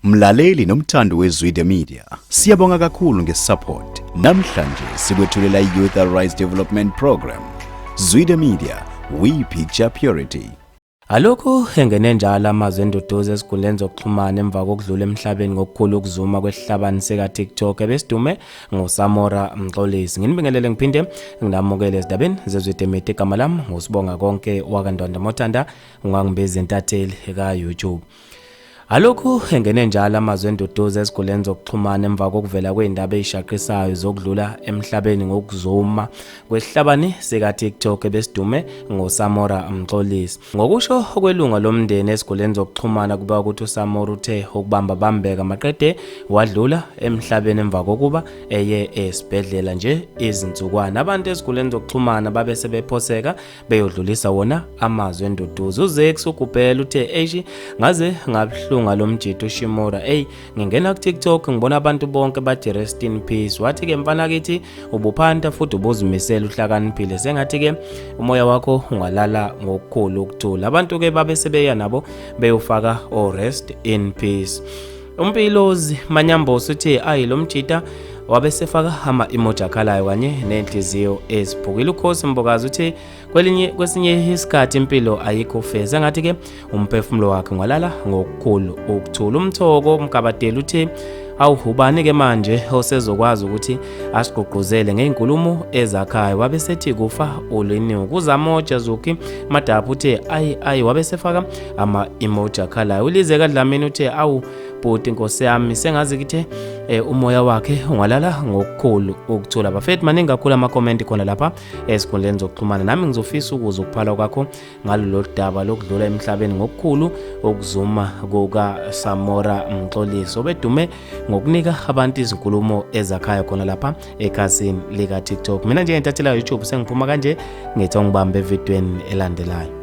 Mlaleli nomthandi weZwide Media, siyabonga kakhulu ngesupport. Namhlanje sikwethulela i-Youth Arise Development Program. Zwide Media, we picture purity. Alokhu engene njalo amazwi enduduzo ezinkundleni zokuxhumana emva kokudlula emhlabeni ngokukhulu ukuzuma kwesihlabani sika-tiktok ebesidume ngosamora mxolisi nginibingelele ngiphinde nginamukele ezindabeni zezwidemidi igama lami ngusibonga konke wakandwandamotanda ungangibezi entatheli ka-youtube Alokhu engene njalo amazwi enduduzo eziguleni zokuxhumana emva kokuvela kwezindaba ezishaqisayo zokudlula emhlabeni ngokuzuma kwesihlabani sika TikTok ebesidume ngoSamora Mxolisi. Ngokusho okwelunga lomndeni eziguleni zokuxhumana kuba ukuthi uSamora uthe ukubamba bambeka maqede wadlula emhlabeni emva kokuba eye esibhedlela nje izinsukwana. Abantu eziguleni zokuxhumana babe sebephoseka beyodlulisa wona amazwi enduduzo uzex ugubhela uthe eishi ngaze ngabuhlunga lo mjito ushimora eyi ngingena kutiktok ngibona abantu bonke bathi rest in peace wathi-ke mfana kithi ubuphanta futhi ubuzimisela uhlakaniphile sengathi-ke umoya wakho ungalala ngokukhulu ukuthula abantu-ke babe sebeya nabo beyofaka o-rest in peace Umpilozi Manyambosi uthe ayi lo mjita wabe sefaka hama imoja akhalayo kanye nenhliziyo eziphukile ukhosi mbokazi uthe kwelinye kwesinye isikhathi impilo ayikho feza ngathi ke umphefumulo wakhe ngwalala ngokukhulu ukuthula umthoko umgabadeli uthe awuhubani ke manje osezokwazi ukuthi asigqugquzele ngeenkulumo ezakhayo wabe sethi kufa uliniwe kuzamoja zuki madaphu uthe ayi ayi wabe sefaka ama-emoji akhalayo ulize kadlamini uthe awu bhuti nkosi yami sengazi kithe eh, umoya wakhe ungalala ngokukhulu ukuthula bafethu maningi kakhulu amakomenti khona lapha ezikhundleni zokuxhumana nami ngizofisa ukuza ukuphala kwakho ngalolu daba lokudlula emhlabeni ngokukhulu ukuzuma kukasamora mxolisi obedume ngokunika abantu izinkulumo ezakhayo khona lapha ekhasini lika-tiktok mina nje ngentathela youtube sengiphuma kanje ngithi ongibambe evidweni elandelayo